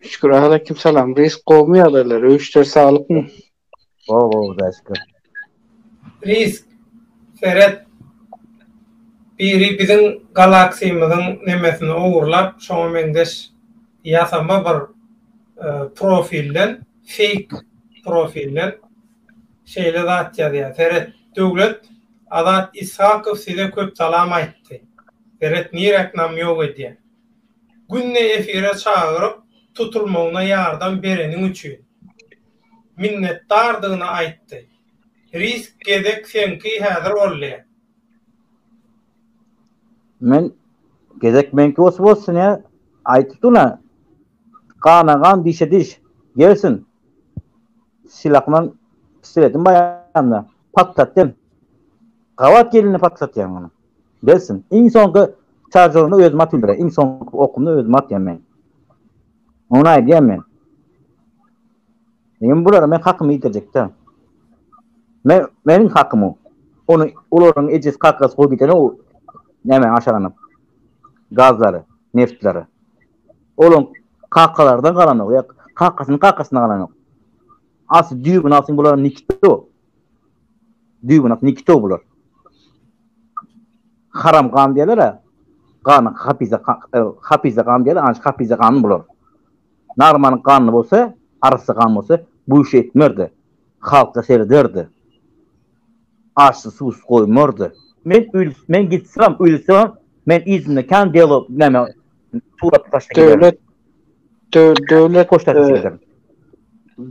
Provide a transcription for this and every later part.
Şükür aleyküm salam. Reis gowmy ýagdaýlar? Öý işleri saglykmy? Gowy gowy Hudaýa şükür. Reis seret biri biziň galaksymyzyň nemesini ogurlap şoňa meňzeş ýasama bir profilden feýk profilden şeýle zat ýazýar seret Döwlet Azat Ishakow size köp salam aýtdy seret niräk namýok edýär. Günde efire çagyryp, tutulmagyna ýardam bereniň üçin, minnetdardygyny aýtdy. Risk gezek seňki häzir boldy. Men Gezek meňki bolsa bolsun ýa, aýdypdygyn-a, gana gan, dişe diş, gelsin! Silahymam, pistoletim baýamda, patlatdym. Gabat gelini patlatýan munuň. Gelsin. Iň soňky çaržoryny özüm atyn bile. Iň soňky okumy özüm atýan men. Ony aýdýan men. Men bulara men hakymy ýitirjekde. Men meniň hakym o. Ony olaryň ejesi kakasy goýup giden o näme aşaganyp. Gazlary, neftleri. Olaryň kakalardan galanok ýa kakasynyň kakasyndan galanok. Asy düýbüni alsyň bulara nikde o. Düýbünak nikito bular. Haram gan diýerler-ä. Ganyňky hapize hapize gan diýerler, ana şu hapize gany bular. Narmanyň ganyny bolsa, arassa gan bolsa, bu işi etmerdi. Halka serederdi. Açsyz, suwsyz goýmardy. Men öl men gitsem, ölsem, men yzymda kän delo näme Surat başa gider. Döwlet döwlet poçta e, gider.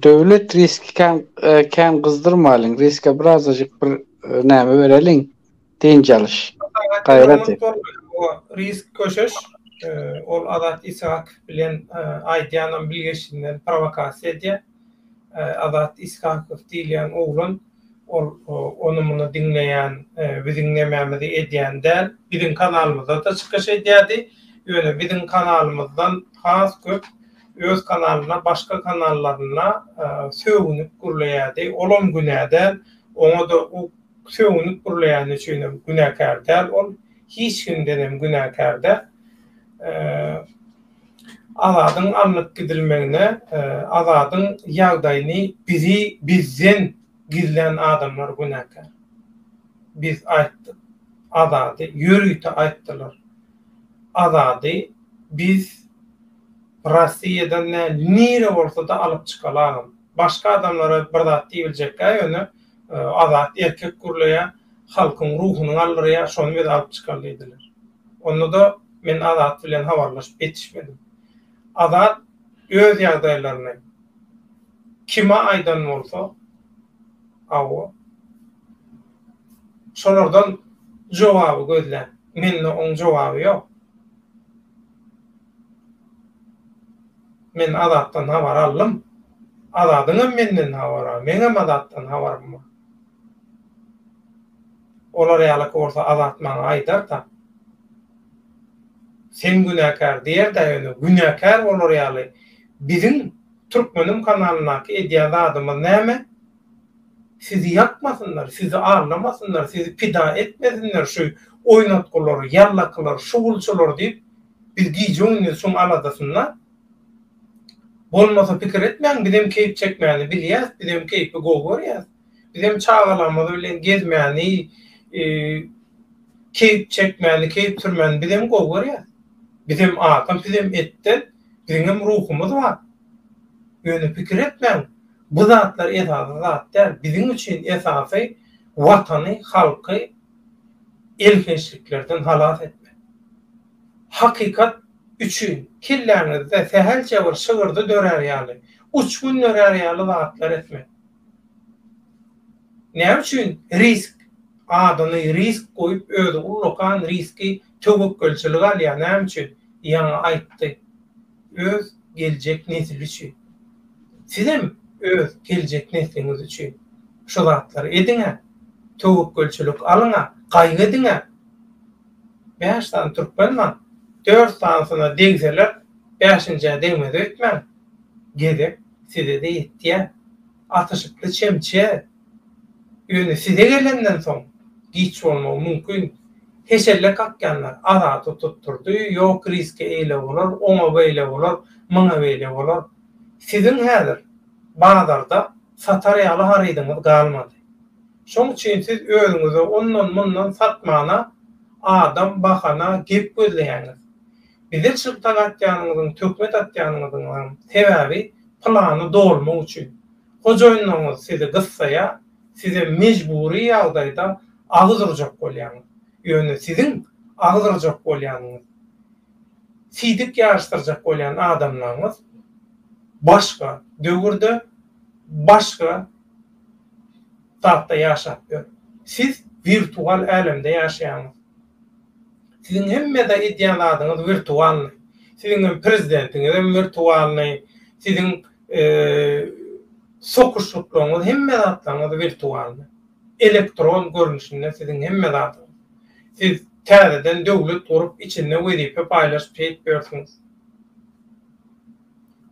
Döwlet riski kän e, kän gyzdyrmalyň. Riske birazajyk bir e, näme bereliň. Dynç alyş. Gaýrat et. Risk köşeş ol Azat Ishak bilen aýdýanam bilgeşinden prowokasiýa edýär. Azat Ishakow diýilýän oglan Ol ony-muny diňleýän, biziň nämämizi edýän däl, biziň kanalymyzda-da çykyş edýärdi, ýöne biziň kanalymyzdan has köp öz kanalyna başga kanallaryna sögünip gürleýärdi, olam günä däl, oňa-da o sögünip gürleýäni üçinem günäkär däl ol, hiç kimdenem günäkär däl. Azadyň alnyp gidilmegine Azadyň ýagdaýyny bizi bizden gizlän adamlar günäkär. Biz aýtdyk. Azady ýörite aýtdylar. Azady biz Rossiýadan nä nire bolsada alyp çykaly agam. Başga adamlara bir zat diýibiljekkä ýöne Azat erkek gürleýä halkyň ruhuny galdyrýa şony biz alyp çykaly diýdiler. Onda-da men Azat bilen habarlaşyp ýetişmedim. Azat öz ýagdaýlaryny kime aýdan bolsa, hawa, şolardan jogaby gözlän. Mende oň jogaby ýok. Men Azatdan habar aldym. Azadyň hem menden habary bar, meň hem Azatdan habarym bar. Olar ýalak bolsa Azat maňa aýdar-da. Sen günäkär diýer-dä ýöne günäkär bolar ýaly biziň Türkmenim kanalyndaky edýän zadymyz näme? Sizi ýakmasynlar, sizi allamasynlar, sizi pida etmesinler şu oýnatgylar, ýallakylar, şugulçylar diýip biz gije-gündiz şuň aladasynda. Bolmasa pikir etmäň bizem keýp çekmäni bilýäs, bizem keýpi gowy görýäs. Bizem çagalarymyz bilen gezmäni, keýp çekmäni, keýp sürmäni bizem gowy görýäs. Bizem adam, sizem etden, biziňem ruhumyz bar. Ýöne pikir etmäň, bu zatlar esasy zat däl. Biziň üçin esasy Watany, halky elhençliklerden halas etmek. Hakykat üçin kelläňizde sähelçe bir şygyrdy dörär ýaly, uçgun dörär ýaly zatlar etmek. Näme üçin risk adyny risk goýup özi ullakan riski töwekgelçilik alýar näme üçin ýaňy aýtdy öz geljek nesli üçin sizem öz geljek nesliňiz üçin şu zatlary ediňä töwekgelçilik alyňa gaýgy ediňä bäş sany türkmen bar dört sanysyna degseler bäşinjä degmez öýtmäň gezek Size-de ýetýär. Atyşykly çemçe. Ýöne size gelenden soň, giç bolmagy mümkin. Heşelle kakýanlar, Azady tutdurdy, ýok Rizke eýle bolar, oňa beýle bolar, muňa beýle bolar. Siziň häzir bazarda satar ýaly harydyňyz galmady. Şoň üçin siz özüňize ondan-mundan satmana adam, bahana, gep gözleýäňiz. Bize çyltak atýanyňyzyň, töhmet atýanyňyzyňam sebäbi plany dolmak üçin. Hojaýynlaryňyz sizi gyssaýar, sizem mejbury ýagdaýda agyz urjak bolýaňyz. Ýöne siziň agyz urjak bolýanyňyz, sidik ýaryşdyrjak bolýan adamlaryňyz başga döwürde, başga zatda ýaşap ýör. Siz wirtual älemde ýaşaýaňyz. Siziň hemmede edýän zadyňyz wirtualnyý. Siziň hem prezidentiňizem wirtualnyý, siziň sokuşlyklaryňyz hemme zatlaryňyz wirtualnyý. Elektron görnüşinde siziň hemme zadyňyz. Siz täzeden döwlet gurup içinde wezipe paýlaşyp şeýdip ýörsüňiz.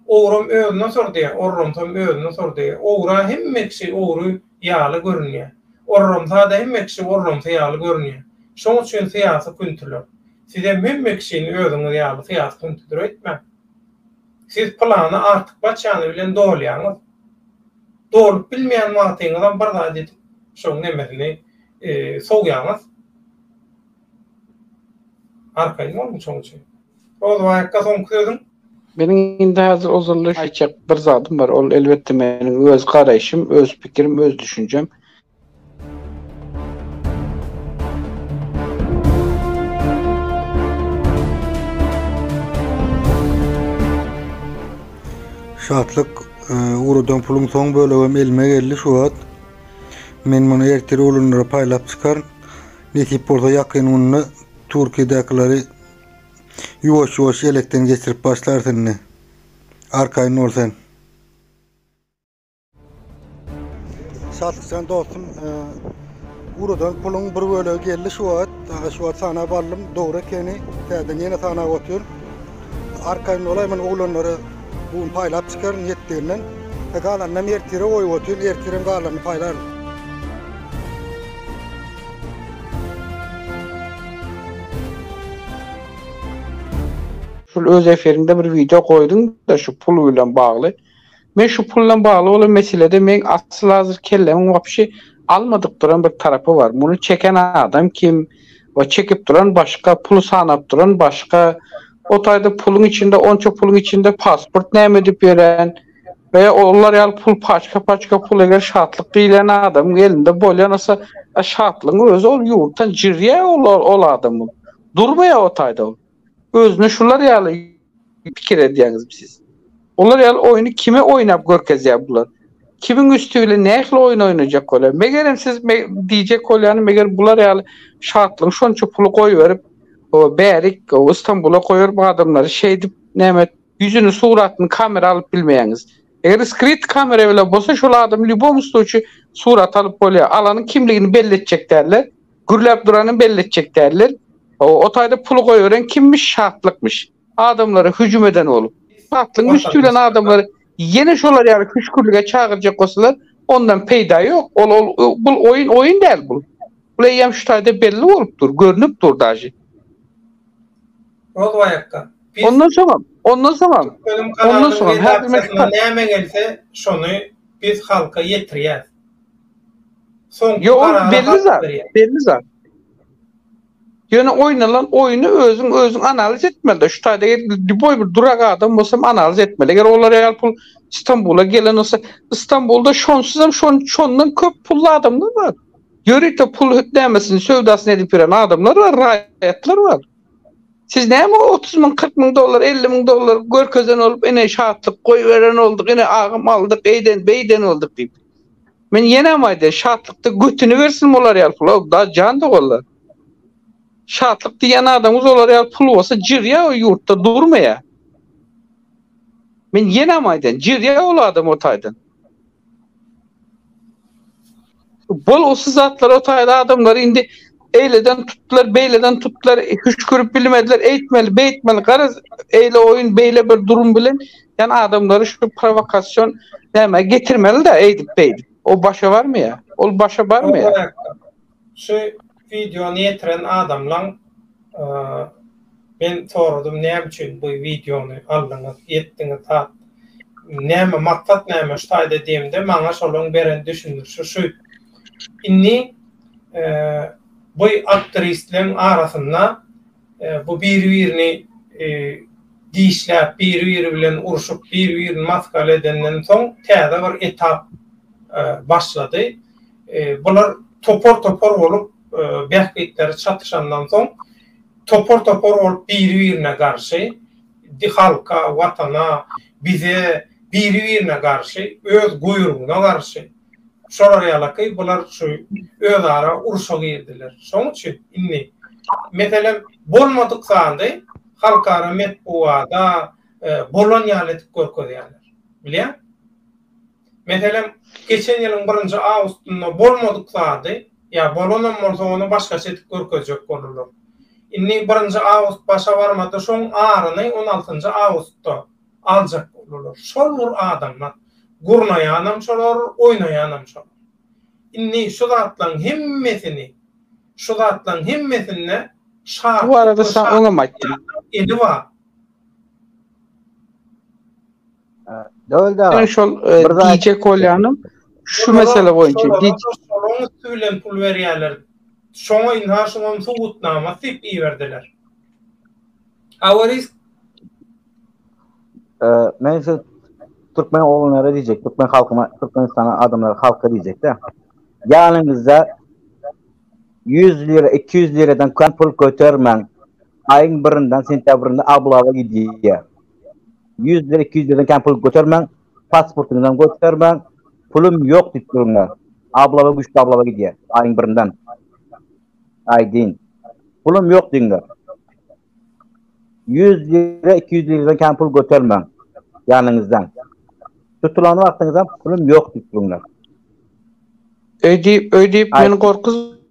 Ogram özüne sordy, orramsam özüne sordy. Ogra hemme kişi ogry. ýaly görünýär. Orramsa-da hemme kişi orramsa ýaly görünýär. Şoň üçin syýasy küntüler. Sizem hemme kişini özüňiz ýaly syýasy küntüdir öýtmäň. Siz pylany artykmaçjany bilen dolýaňyz. Dolup bilmeýän wagtyňyzam bir zat edip şoň nemesini sowýaňyz. Arkaýyn boluň şoň üçin. Rozowaý akga soňky sözüň? Meniň indi häzir ozaldan aýtjak bir zadym bar, ol elbetde meniň öz garaýşym, öz pikirim, öz düşünjem. Şatlyk, ugradan puluň soň bölegem elime geldi şu wagt. Men muny ertir oglanlara paýlap çykaryn. Nesip bolsa ýakyn günde Türkiýedäkileri Ýuwaş ýuwaş ýelekden geçirip başlarys indi. Arkaýyn bol sen. Şatlykjan dostum, e, urudan puluň bir bölegi geldi şu wagt. Aga şu wagt sanap aldym. Dogry ekeni. Täzeden ýene sanap otyr. Arkaýyn bolaý, men oglanlara bu gün paýlap çykaryn ýetdiginden. E, galanynam ertire goýup otyryn. Ertirem galanny paýlaryn. Şul öz efirinde bir wideo goýduňda şu pul bilen bagly. Men şu pul bilen bagly bolan meselede meň asyl hazir kellemiň wapşi almadyk duran bir tarapy bar. Muny çeken adam kim we çekip duran başga, puly sanap duran başga. O taýda puluň içinde onça puluň içinde pasport näme edip ýören. we olar ýaly pul paçka-paçka pul eger şatlyk diýlen adamyň elinde bolýan bolsa, a şatlygyň özi ol ýurtdan jirýär ol ol adam ol. Durmaýar o taýda ol. Özüni şular ýaly pikir edýäňizmi siz? Olar ýaly oýny kime oýnap görkezýär bular? Kimiň üsti bilen nähili oýun oýnajak bolýar? Megerem siz diýjek bolýanyň meger bular ýaly şatlygyň şonça puly goýberip, o bärik, o Stambula goýberip adamlary şeýdip näme et, Ýüzüni suratyny kamera alyp bilmeýäňiz. Eger skryt kamera bile bolsa şol adamy lýubomy sluçy surat alyp bolýar. Alanyň kimligini belli etjek däldir. Gürläp duranyny belli etjek däldir. O taýda puly goýberen kimmiş şatlykmyş. Adamlara hüjüm eden bolup. Şatlygyň üsti bilen adamlary ýene şolar ýaly hüşgürlige çagyrjak bolsalar ondan peýda ýok. Ol ol bul oýun oýun däl bul. Bul eýýäm şu taýda belli bolup dur. Görnüp dur daži. Rozwaýakdan. Ondan soňam, ondan soňam, ondan soňam her kime kitap. Näme gelse şony biz halka ýetirýäs. Soňky karary halk berýär. Belli zat. Ýöne oýnalan oýny özüň özüň analiz etmelide. Şu taýda lýuboý bir durak adam bolsam analiz etmeli. Eger olar ýaly pul Stambula gelen bolsa, Stambulda şonsuzam şon şondan köp pully adamlar bar. Ýörite pul nämesin söwdasyny edip ýören adamlar bar, raýatlar bar. Siz näme o otuz müň, kyrk müň dollar, elli müň dollar görkezen bolup, ine şatlyk goýberen bolduk, ine agym aldyk, eýden, beýden bolduk diýip. Men ýenem aýdaýyn, şatlykda götüni bersin bular ýaly pula, daş jan doganlar. Şatlyk diýýän adamyňyz olar ýaly pul bolsa jirýär o ýurtda durmaýar. Men ýenem aýdaýyn, jirýär ol adam o taýdan. Bolgusyz zatlar o taýda adamlary indi eýleden tutdular, beýleden tutdular, hüşkürip bilmediler, eýtmeli, beýtmeli, garaz, eýle oýun, beýle bir durum bilen, ýani adamlary şu prowokasion nämä getirmeli-dä eýdip-beýdip. O başa barmaýar. Ol başa barmaýar. Şu wideony ýetiren adamlaň Men soradym näme üçin bu wideony aldyňyz etdiňiz hat näme maksat näme şu taýda diýemde maňa şolaň beren düşündirişi şu indi bu aktristleň arasynda bu biri birini dişläp biri biri bilen urşup biri birini maskala edenden soň täze bir etap başlady bular topar topar bolup bähbitleri çatyşandan soň Topar-topar bolup biri-birine garşy, halka, watana, bize, biri-birine garşy, öz guýrugyna garşy. Şolar ýalaky bular şu özara urşa girdiler. Şoň üçin indi, meselem, bolmadyk zady halkara metbugada bolan ýaly edip görkezýärler. Bilýäň? Meselem, geçen ýylyň birinji awgustynda bolmadyk zady, ýa bolanam bolsa ony başgaça edip görkezjek boldular. Indi birinji awgust başa barmady, şoň aryny on altynjy awgustda aljak boldular. Şol bir adamlar. Gurnaýanam şolar, oýnaýanam şolar. Indi şu zatlaryň hemmesini, şu zatlaryň hemmesinde şartly we şartly ýagdaýlaryň eli bar. Döwlet aga. Şol gije kolýanyň şu mesele boýunça gije şonuň üsti bilen pul berýärler. Şoňa ynha şoňam subutnama syp iberdiler. Awarisk. Men şu türkmen oglanlara diýjek, türkmen halkyna, türkmenistana adamlara, halka diýjek-de. Ýanyňyzda 100 lira, 200 liradan kän pul götermäň. Aýyň birinden sentýabrynda ablaba gidýär. Ýüzden, iki ýüzden kän pul götermäň, pasportyňyzam götermäň, pulum ýok diýip durma. Ablaba güýçli ablaba gidýär, aýyň birinden. Aýdýn. Pulum ýok diýiňler. Ýüz lira, iki ýüz liradan kän pul götermäň ýanyňyzdan. Tutulan wagtyňyzam pulum ýok diýip durunlar. Öýdip, öýdip meni gorkuzma.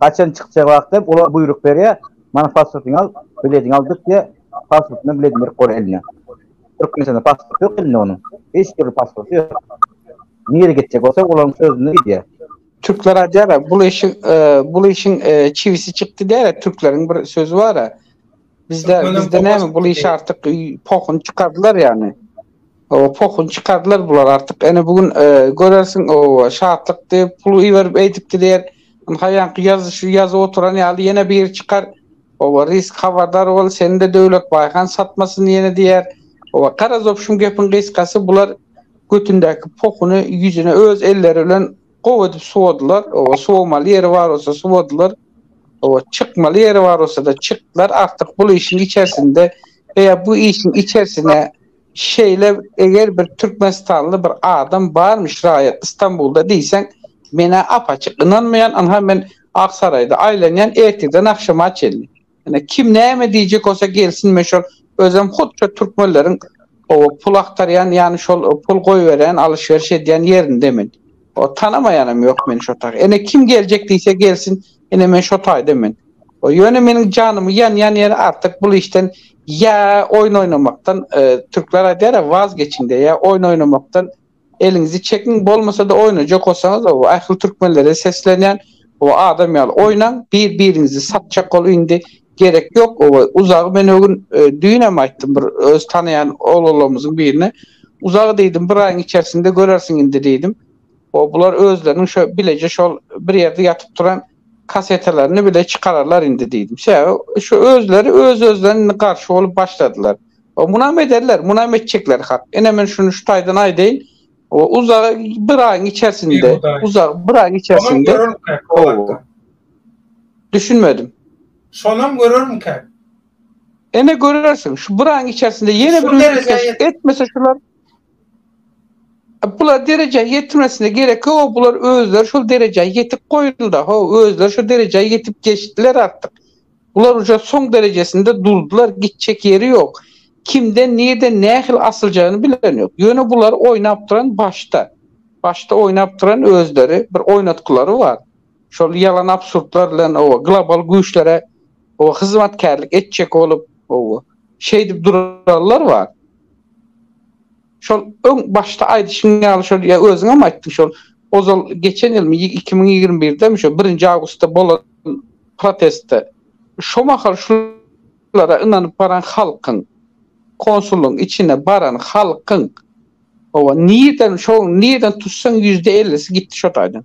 Haçan çykjak wagtam olar buýruk berýär, Mana pasportyňy al, bilediňi al dyk diýýär. Pasport bilen biledini berip goýar eline. Türkmenistanda pasport ýok elinde onuň. Hiç dürli pasporty ýok. Nirä gitjek bolsa olaryň sözüne gidýär. Türkler aýdýar-a, bul işiň, bul işiň çiwisi çykdy diýär-a, türkleriň bir sözi bar-a. Bizde bizde näme bul iş artyk pohuny çykardylar ýani. O pohuny çykardylar bular artyk. Ene bu gün e, görersiň o şatlyk diýip pul iberip eýdip gider. Haýanky ýazyşy ýazyp oturan ýaly ýene bir çykar. Owa risk habardar bol, seni de Döwlet Baýhan satmasyn ýene diýer. Owa garaz opşum gepiň gysgasy bular götündäki pohuny ýüzüne öz elleri bilen Gowy edip suwadylar, oba suwamaly ýeri bar bolsa suwadylar, oba çykmaly ýeri bar bolsa-da çykdylar, artyk bul işiň içersinde we ýa bu işiň içersine şeýle eger bir türkmenistanly bir adam barmyş raýat Istanbulda diýseň men-ä ap-açyk ynanmaýan, ynha men Aksaraýda aýlanýan ertirden agşama çenli. Ine kim näme diýjek bolsa gelsin men şol özüm hut şo türkmenleriň o pul agtarýan ýany şol pul goýberýän alyşberiş edýän ýerinde men. O tanamaýanam ýok meni şo taý. Ine kim geljek diýse gelsin ine men şo taýda men. O ýöne meniň janymy ýanýan ýeri artyk bul işden ýa oýun oýnamakdan türkler aýdýara waz geçiň diýe ýa oýun oýnamakdan Eliňizi çekiň bolmasada oýnajak bolsaňyz o ahil türkmenlere seslenýän o adam ýaly oýnaň bir biriňizi satjak bolup indi gerek ýok o uzagy men ögün düýnem aýtdym bir öz tanaýan oglanlarymyzyň birine uzagy diýdim bir aýyň içersinde görersiň indi diýdim o bular özleriniň şo bileje şol bir ýerde ýatyp turan Kasetalaryny bile çykararlar indi diýdim. Ş şu özleri öz-özlerine indi garşy bolup başladylar. O munam ederler, munam etjekler hak. Ine men şuny şu taýdan aýdaýyn. O uzak bir aýyň içersinde, uzak bir aýyň içersinde. Düşünmedim. Şonam görermikäk? Ene görersiň. Şu bir aýyň içersinde ýene bir etmese şular. Bular derejä ýetirmesine gerek ýok, bular özleri şol derejä ýetip goýuldy, ho, özleri şo derejä ýetip geçdiler artyk. Bular uje soň derejesinde durdylar, gitjek ýeri ýok. Kimden, nirden, nähili asyljagyny bilen ýok. Ýöne bulary oýnap duran başda. Başda oýnap duran özleri, bir oýnatgylary bar. Şol ýalan absurdlar bilen o global güýçlere o hyzmatkärlik etjek bolup, o şeýdip duranlar bar. Şol öň başda aýdyşyň ýaly şol ýa özüň hem aýtdyň şol ozal geçen ýylmy ýa iki müň ýigrimi birdemi şo birinji awgustda bolan protestde şo mahal şulara ynanyp baran halkyň konsulyň içine baran halkyň Hawa, nirden şo nirden tutsaň ýüzde ellisi gitdi şo taýdan.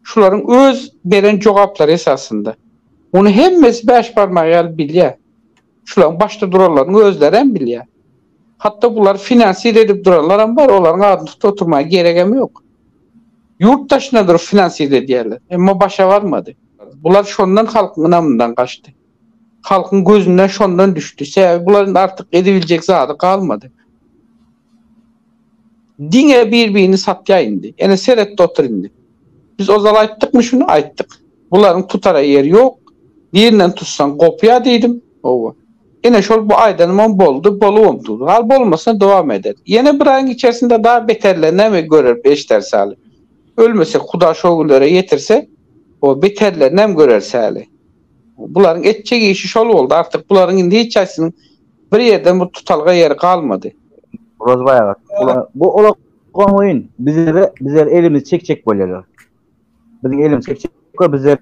Şularyň öz beren jogaplary esasynda. Muny hemmesi bäş barmagy ýaly bilýär. Şularyň başda duranlaryň özlerem bilýär. Hatda bulary finansir edip duranlaram bar, olaryň adyny tutup oturmaga geregem ýok. Ýurt daşynda durup finansir edýärler. Emma başa barmady. Bular şondan halkyň ynamyndan gaçdy. Halkyň gözünden şondan düşdi. Sebäbi bular indi artyk edibiljek zady galmady. Diňe bir birini satýa indi. Ene seretde otur indi. Biz ozal aýtdykmy şuny? Aýtdyk. Bularyň tutara ýeri ýok. Birinden tutsaň gopýa diýdim. Howwa. Ene şol bu aýdanymam boldy, bolubam dur. Hal bolmasa dowam eder. Ýene bir aýyň içersinde da beterler näme göreris eşderis aly. Ölmesek huda şo günlere ýetirse, o beterlerinem göreris aly. Bularyň etjek işi şol boldy artyk bularyň indi hiç haýsynyň Bir ýerden bir tutalga ýeri galmady. Rozbaý aga, bu ulag oňyn, bizlere, bizler elimizi çekjek bolýarlar. Biziň elimizi çekjek bolýar, bizler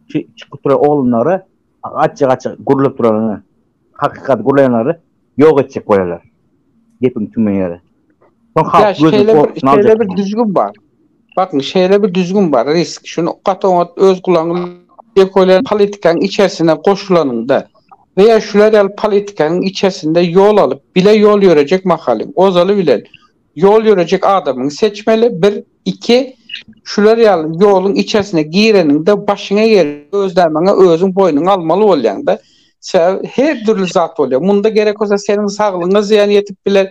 çykyp duran oglanlary, gaçjak-gaçjak gürläp duranlary, hakykaty gürleýänleri ýok etjek bolýarlar. Gepiň tüme ýeri. Soň halk gözüni şeýle bir, şeýle bir düzgün bar. Bakın şeýle bir düzgün bar, risk. Şunu gaty oňat öz gulagyňyz ekolen politikaň içerisine goşulanyňda we ýa şular ýaly politikaň içerisinde ýol alyp, bile ýol ýörejek mahalyň, ozaly bilen ýol ýörejek adamyňy seçmeli, bir. Iki, şular ýaly ýoluň içersine gireniňde başyňa gelen gözlämäňe özüň boýnuňa almaly bolýaň-da. Sebäbi her dürli zat bolýar. Munda gerek bolsa seniň saglygyňa zyýan ýetip biler,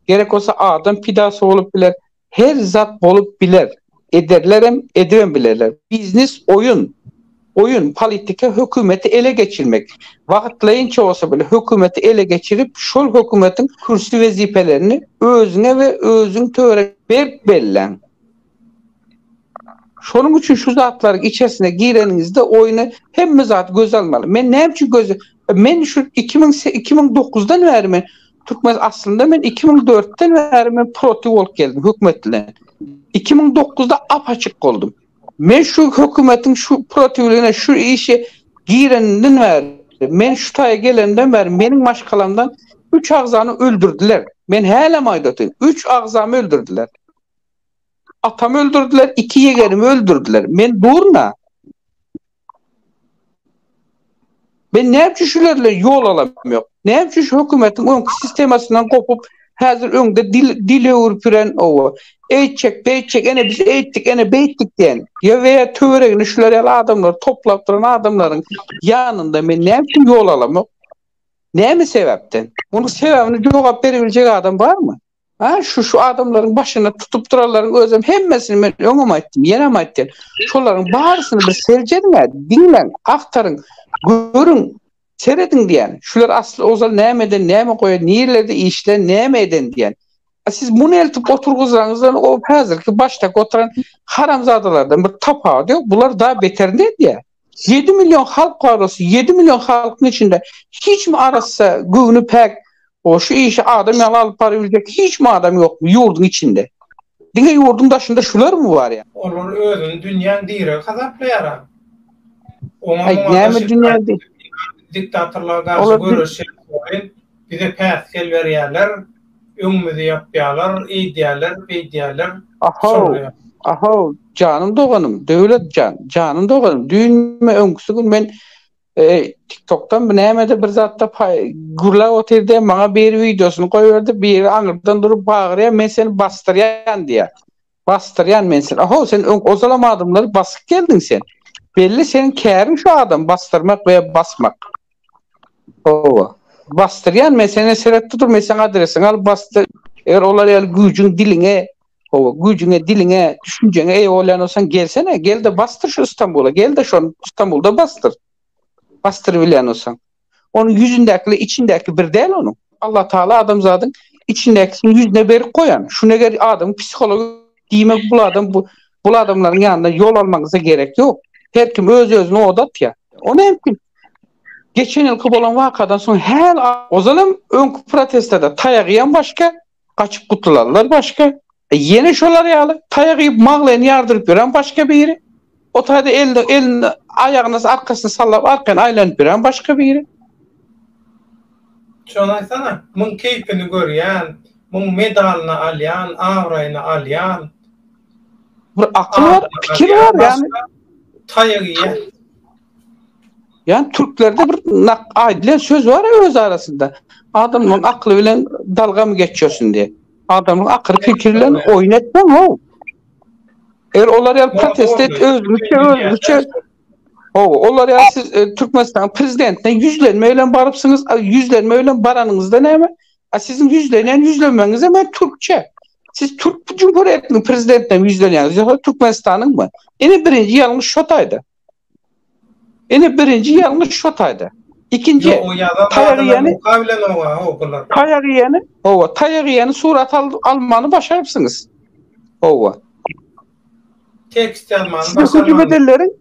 gerek bolsa adam pidasy bolup biler. Her zat bolup biler. Ederlerem, edibem bilerler. Biznes oýun. Oýun, politika hökümeti ele geçirmek. Wagtlaýynça bolsa bile hökümeti ele geçirip, şol hökümetiň kürsi wezipelerini özüňe we özüň töre. Berk belläň. Şonuň üçin şu zatlaryň içersine gireniňizde oýny hemme zat göze almaly. Men näme üçin göze Men şu iki müň iki müň dokuzdan bäri men Türkmen aslynda men iki müň dörtden bäri men protiw bolup geldim hökümet bilen. Iki müň dokuzda apaçyk boldum. Men şu hökümetiň şu protiwligine şu işe gireninden bäri, men şu taýa gelenimden bäri meniň maşgalamdan üç agzany öldürdiler. Men hälem aýdatyn, üç agzamy öldürdiler. Atamy öldürdiler, iki ýegerimi öldürdiler. Men durna. Men näme üçin şular bilen ýol alamok? Näme üçin şu hökümetiň öňki sistemasyndan gopup, häzir öňde dil dil öwrüp ýören owo, eýtjek, beýtjek, ene biz eýtdik, ene beýtdik diýen, ýa we ýa töweregini şular ýaly adamlary toplap duran adamlaryň ýanynda men näme üçin ýol alamok? Näme sebäpden? Munuň sebäbini jogap berebiljek adam barmy? Ha, şu şu adamlaryň başyny tutup duranlaryň özem hemmesini men öňem aýtdym, ýenem aýtdym. Şolaryň barysyny bir seljeriň-ä, diňläň, agtaryň, görüň, serediň diýýän. Şular asly ozal nämeden, näme goýan, nirelerde işlän, näme eden diýýän. A siz muny eltip oturgyzanyňyzdan o häzirki başdaky oturan haramzadalardan bir tapawudy ýok. Bular da beterine edýär. Ýedi million halk barasy, ýedi million halkyň içinde hiçmi arassa, göwni päk, o şu işi adam ýaly alyp baryp biljek hiçmi adam ýokmy ýurduň içinde? Diňe ýurduň daşynda şularmy bar ýa? Olar özüni dünýäň diregi hasaplaýar-a. Oňa-muňa daş edip aýtmaly, diktatorlara garşy göreşýän Bize päsgel berýärler, öňümizi ýapýarlar, eýdýärler, beýdýärler. Ahow! Ahow! Janym doganym, Döwlet jan, janym doganym, düýnmi, öňküsi gün men TikTokdanmy, nämede bir zatda gürläp otyrdy, maňa biri wideosyny goýberdi, biri aňyrdan durup bagyrýar, men seni basdyrýan diýýär. Basdyrýan men seni. Aho, sen öň ozalam adamlary basyp geldiň sen. Belli seniň käriň şu adam basdyrmak we basmak. Howa. Basdyrýan men seni seretdi dur men seň adresiňi alyp basdy. Eger olar ýaly güýjüň diliňe, howa, güýjüňe diliňe, düşünjeňe eýe bolýan bolsaň gelsene, gel-de basdyr şu Stambula, gel-de şony Stambulda basdyr. Basdyrybilýän bolsaň. Onuň ýüzündäki ile içindäki bir däl onuň. Allah Taala adamzadyň içindäkisini ýüzüne berip goýan. Şuny eger adamyň psihology diýmek bul adam bu bul adamlaryň ýanyna ýol almaňyza gerek ýok. Her kim öz özüni oda atýar. Ony hem kim geçen ýylky bolan wakadan soň häl ozal hem öňki protestlerde taýagy hem başga gaçyp gutulanlar başga, ýene şolar ýaly taýak iýip maglaýyny ýardyryp ýören başga biri, o taýda elini elini aýagyny arkasyna sallap arkaýyn aýlanyp ýören başga biri. Şony aýtsana, muň keýpini görýän, muň medalyny alýan, abraýyny alýan. Bir akyl bar, pikir bar ýagny. Taýak iýýän. Yani Türklerde bir nak aýdylan söz bar ya öz arasynda. Adamyň akly bilen dalga mı geçýärsin diye. Adamyň akyl fikir bilen oýun etmeň ho. Eger olar ýaly protest et, özgüçe, özgüçe. O, olar ýaly siz e, Türkmenistan prezidentine ýüzlenme bilen barypsyňyz, a, ýüzlenme bilen baranyňyzda näme? A siziň ýüzlenýän ýüzlenmeňiz hem türkçe. Siz Türk Cumhuriyetiniň prezidentine ýüzlenýäňiz, ýa Türkmenistanyň mı? Ene birinji ýalňyş şo taýda. Indi birinji ýalňyş şu taýda. Ikinji Ýok, o ýazan taýagy zadyny ýäni muka bilen oňa, haw, bular. taýagy ýäni, hawa, taýagy ýäni surat al, almany başarypsyňyz. Hawa. Tekst ýazmany Size hüjüm başarmadyňyz. edenleriň,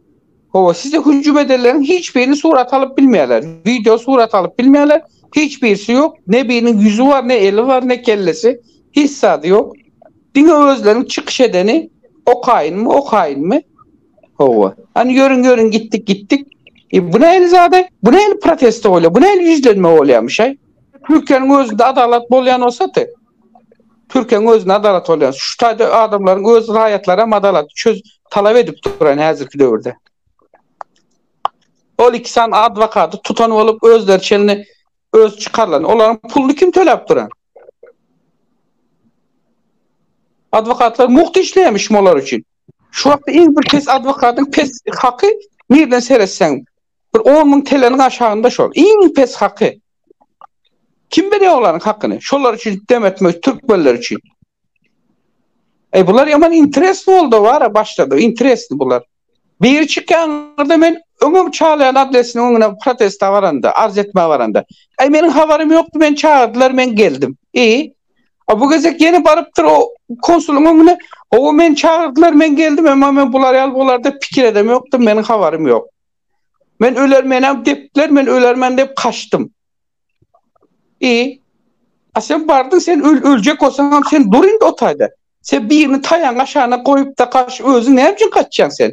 hawa, size hüjüm edenleriň hiç birini surat alyp bilmeýärler. Wideo surat alyp bilmeýärler. Hiç birisi ýok. Ne biriniň ýüzi bar, ne eli bar, ne kellesi. Hiç zady ýok. Diňe özleriň çykyş edeni okaýynmy, okaýynmy? Hawa. Hany ýörüň ýörüň gitdik gitdik. E bu nähili zada? Bu nähili protesta bolýar? Bu nähili ýüzlenme bolýarmyşaý? Türkiýäniň özünde adalat bolýan bolsady. Türkiýäniň özünde adalat bolýan. Şu taýda adamlaryň öz raýatlary hem adalat çöz talap edip duran häzirki döwürde. Ol iki sany adwokaty tutan bolup özleri çenli öz çykarlan. Olaryň puluny kim töläp duran? Adwokatlar mugt işleýärmiş molar üçin. Şu wagtda iň bir pes adwokatyň pes haky nirden seretseň bir on müň teleniň aşagynda şol. Iň pes haky. Kim berýär olaryň hakyny? Şolar üçin dem etmek türkmenler üçin. Eý bular ýaman interesni boldy bara başlady. Interesni bular. Biri çykýanlarda men öňem çalýan adresiniň öňüne protesta baranda, arz etmä baranda. Eý meniň habarym ýokdy, meni çagyrdylar, men geldim. Eý, A bu gezek ýene barypdyr o konsuluň öňüne, Hawa, meni çagyrdylar, men geldim, emma men bular ýaly bolar-da pikir edem ýokdym, meniň habarym ýok. Men öler, menäm depdiler, men ölermen diýip kaçdym. I, a sen bardyň, sen öl, öljek bolsaňam, sen dur indi o taýda. Sen birini taýagyň aşagyna goýup-da kaç, özüň näme üçin kaçýaň sen?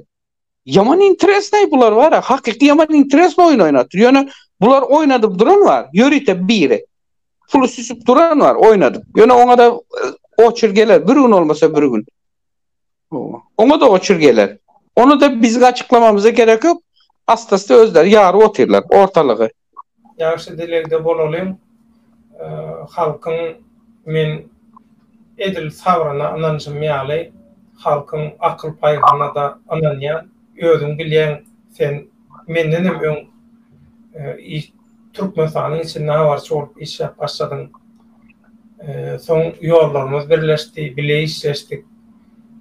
Yaman interes ne bular var ya. Hakiki yaman interes oyun oynatır. Yani bular oynadıp duran var. Yörite biri. Pulu süsüp duran var oynadıp. Yani ona da e, oçur gelir. Bir gün olmasa bir gün. Ona da oçur gelir. Onu da bizim açıklamamıza gerek yok. Astası özler yarı oturlar ortalığı. Ýagşy dilegde bolalyň halkyň men edil sabryna ynanşym ýaly halkyň akyl paýhynada ynanýan özüň bilýäň sen mendenem öň Türkmenistanyň içinde habarçy bolup işläp başladyň soň ýollarymyz birleşdi bile işleşdik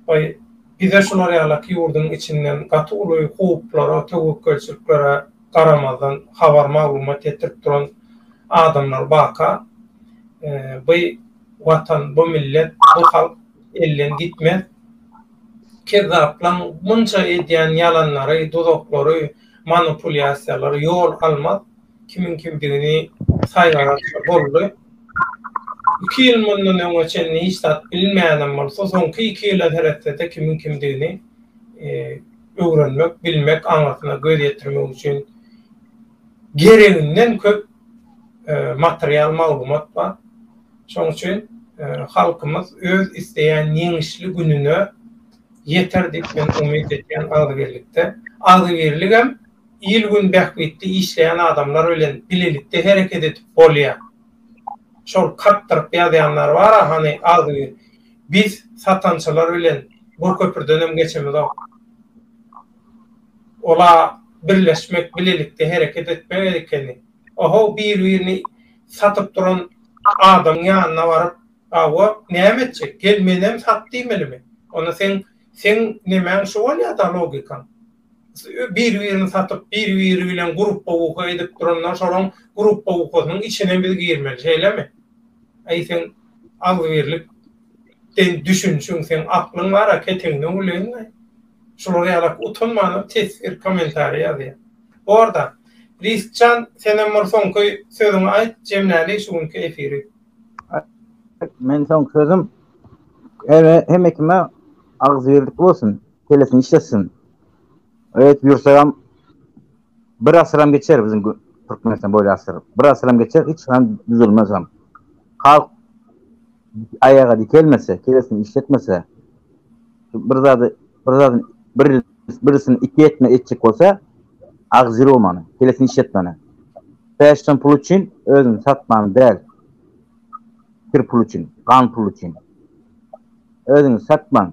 we bize şular ýalaky ýurdyň içinden gaty uly howplara töwekgelçiliklere garamazdan habar-maglumat ýetirip duran adamlar baka, by Watan, bu millet, bu halk elden gitmez. Kezzaplaň munça edýän ýalanlary, duzaklary, manupulýasiýalary ýol almaz. Kimiň kimdigini saýgarasy boldy. Iki ýyl mundan öňe çenli hiç zat bilmeýänem bolsa, soňky iki ýyla seretse-de kimiň kimdigini, öwrenmek, bilmek aňyrsyna göz ýetirmek üçin gereginden köp material maglumat bar. Şonuň üçin halkymyz öz isleýän ýeňişli gününe ýeter diýip men umyt edýän agzybirlikde. Agzybirligem il-gün bähbitli işleýän adamlar bilen bilelikde hereket edip bolýar. Şol kakdyryp ýazýanlar bar-a hany agzybir Biz satançalar bilen bir köpürdenem geçemizok. Ola birleşmek, bilelikde hereket etmek gerekeni. Ohow bir-birini satyp duran adamyň ýanyna baryp, Hawa, näme etjek? Gel menem sat diýmelimi? Onda seň seň nemäň şu bolýada logikaň? bir-birini satyp, bir-biri bilen gruppa-uka edip duranlar, şolaň gruppa-ukasynyň içine biz girmeli, şeýlemi? Äý, seň agzybirlik den düşünişiň, seň aklyň bar-a, keteňden güleýin-le. Şular ýaly utanmanam teswir, kommentariý ýazýar. Bor-da, Risk jan, senem bir soňky sözüňi aýt, jemläli şu günki efiri. Meň soňky sözüm, hemekime agzybirlik bolsun. Kellesini işletsin. Öýtüp ýürsegem bir asyram geçer biziň Türkmenistan boýly asyr. Bir asyram geçer, hiç han düzülmez hem. Halk aýaga dikelmese, kellesini işletmese, bir zady, bir zady bir birisini iki etme etjek bolsa, agzy romany, kellesini işletmeni. Peşden pul üçin özüni satman däl. Kir pul üçin, gan pul üçin. Özüni satman,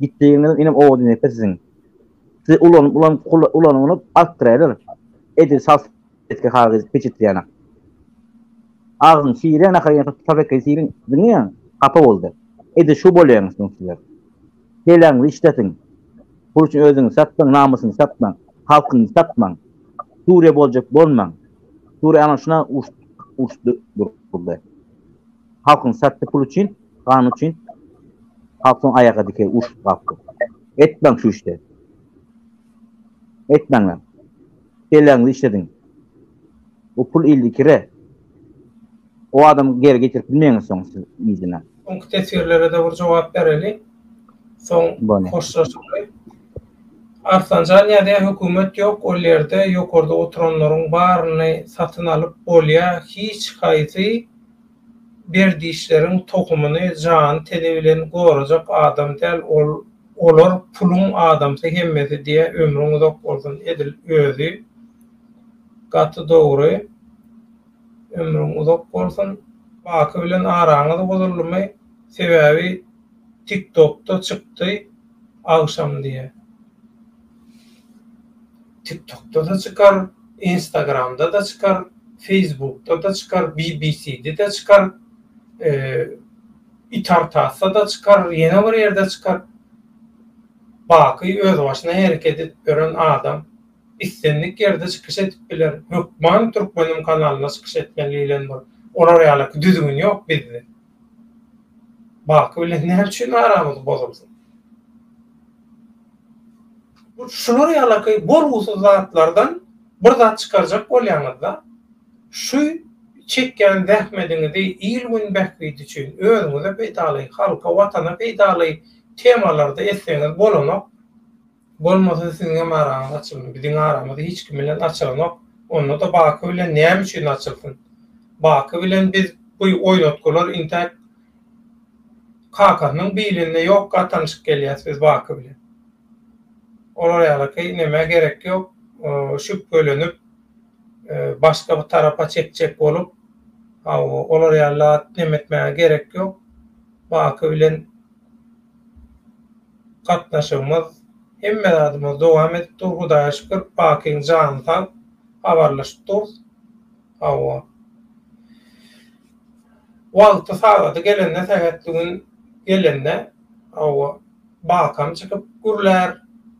Gitdigiňizem inem owada inekler siziň. Sizi ulanyp ulanyp kula ulanyp artdyraýlar. Edil sal etge kagyz peçetli ýanak. Agzyň şire nahar ýaňsa tutar ekge sirin diňe hapa boldy. Edil şu bolýaňyz soň sizler. Heleňizi işletiň. Pul üçin özüňizi satmaň namysyňyzy satmaň. Halkyňyzy satmaň. Suriýa boljak bolmaň. Suriýa ana şuna uruş uruş durdy. Halkyň satdy pul üçin, gan üçin. Halk soň aýaga dikeý urşup galkdy. Etmäň şu işde. Etmäňler. Kelläňizi işlediň. Bu pul ildi kire. O adamy geri getirip bilmeýäňiz soň siz yzyna. Öňki teswirlere-de bir jogap bereli. Soň hoşlaşaly. Arslanjan ýazýar, Hökümet ýok ol ýerde, ýokarda oturanlaryň baryny satyn alyp bolýar, hiç haýsy, Berdişleriň tohumyny jany teni bilen gorajak adam däl ol olar puluň adamsy hemmesi diýä ömrüň uzak bolsun edil özi gaty dogry ömrüň uzak bolsun Baky bilen araňyz bozuldymy sebäbi tiktokda çykdy agşam diýä. Tiktokda-da çykar, Instagramda-da çykar, Feýsbukda-da çykar, BBCde-de çykar, Itartasda-da çykar, ýene bir ýerde çykar. Baky özbaşyna hereket edip ýören adam islendik ýerde çykyş edip biler. Hökman Türkmenim kanalyna çykyş etmeli diýlen bir olar ýalaky düzgün ýok bizde. Baky bilen näme üçin aramyz bozulsyn? Bu şular ýalaky bolgusyz zatlardan bir zat çykarjak bolýaňyzda, şu çekýän zähmediňizi il-gün bähbidi üçin, özüňize peýdaly, halka, watana peýdaly temalarda etseňiz bolanok. Bolmasa siziňem araňyz açyldy, biziň aramyz hiç kim bilen açylanok, onda-da Baky bilen näme üçin açylsyn? Baky bilen biz bu oýnatgylar intäk kakasynyň bilinde ýokka tanyşyp gelýäs biz Baky bilen. Olar ýalyky nemä gerek ýok, şübhelenip, başga bir tarapa çekjek bolup, hawa, olar ýaly zat nemetmäge gerek ýok. Baky bilen. gatnaşygymyz hemme zadymyz dowam edip dur hudaýa şükür pakyň jany sag habarlaşyp durys hawa wagty sagady gelende sähetli gün gelende hawa bakam çykyp gürlär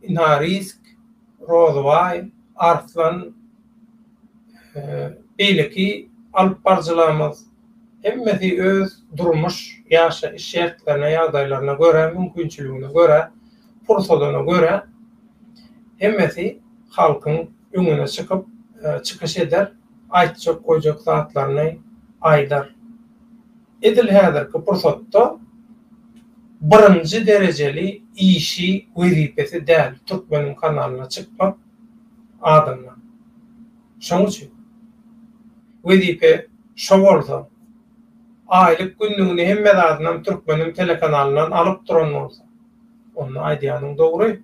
ynha risk rozybaý arslan beýleki alyp baryjylarymyz Hemmesi öz durmuş, ýaşaýyş şertlerine, ýagdaýlaryna görä, mümkinçiligine görä, pursadyna görä hemmesi halkyň öňüne çykyp, çykyş eder, aýtjak, goýjak zatlaryny aýdar. Edil häzirki pursatda birinji derejeli işi, wezipesi däl Türkmeniň kanalyna çykmak adamlaryň. Şonuň üçin wezipe. Şo bolsa, aýlyk-günlügini hemme zadynam türkmeniň telekanalyndan alyp duran bolsa, onda aýdýanyň dogry.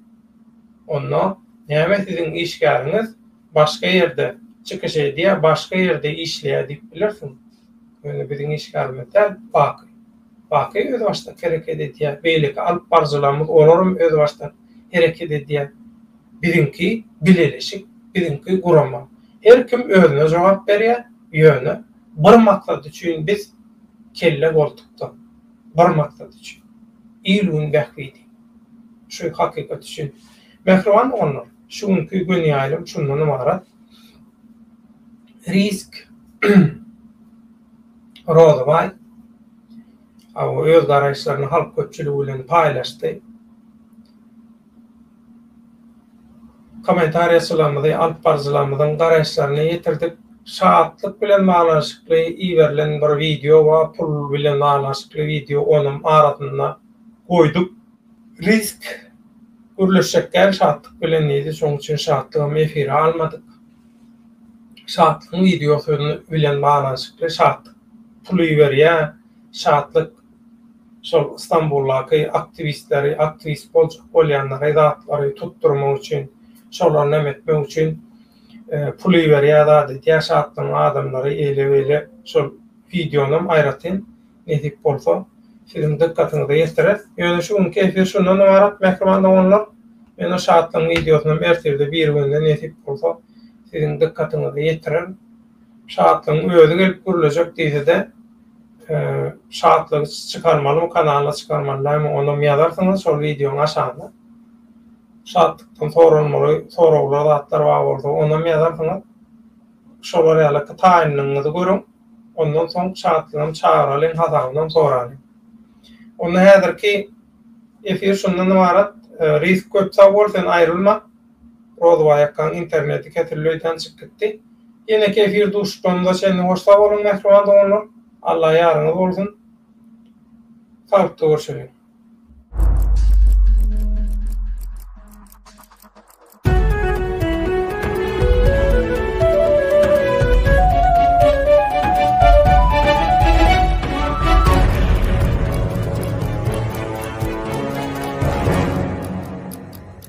Onda näme siziň işgäriňiz başga ýerde çykyş edýär, başga ýerde işleýär diýip bilersiň. Ýöne biziň işgärimiz däl, Baky. Baky özbaşdak hereket edýär. Beýleki alyp baryjylarymyz olaram özbaşdak hereket edýär. Biziňki bileleşik, biziňki gurama. Her kim özüne jogap berýär. Ýöne bir maksat üçin biz kelle boltukda, bir maksat üçin, il-gün bähbidi. Şu hakykat üçin. Mähriban doganlar, şu günki göni ýaýlym şundan ybarat. Risk Rozybaý öz garaýyşlaryny halk köpçüligi bilen paýlaşdy. Kommentariýaçylarymyzy, alyp baryjylarymyzyň garaýyşlaryny ýetirdik. Şatlyk bilen baglanyşykly iberilen bir wideo we pul bilen baglanyşykly wideo onam arasynda goýduk. Risk gürleşjek däl şatlyk bilen diýdi, şoň üçin şatlygam efire almadyk. Şatlygyň wideosy bilen baglanyşykly şatlyk pul iberýär, şatlyk şol Stambuldaky aktiwistleri, aktiwist boljak bolýanlary, zatlary tutdurmak üçin, şolar näme etmek üçin pul iberýär zat edýär, şatlygyň adamlary eýle-beýle. Şol wideonam aýratyn nesip bolsa siziň dykgatyňyza ýetireris. Ýöne şu günki efir şundan ybarat mähriban doganlar. Men o şatlygyň wideosynam ertirde birigünde nesip bolsa siziň dykgatyňyza ýetirerin. Şatlygyň özi gelip gürlejek diýsede Şatlygy çykarmalymy kanala çykarmaly dämi onam ýazarsyňyz şol wideoň aşagyna Şatlykdan soralmaly soraglar zatlar bar bolsa onam ýazarsyňyz şolar ýaly ki taýynlygyňyzy görüň ondan soň Şatlygam çagyralyň hasabynam soralyň onda häzirki efir şundan ybarat Rizk köp sag bol sen aýrylma. Rozbaýakaň interneti kesildi öýdän çyk gitdi. Ýeneki efir duşuşmamyza çenli hoş sag boluň mähriban doganlar. Alla ýaryňyz bolsun. Salykda görşeliň.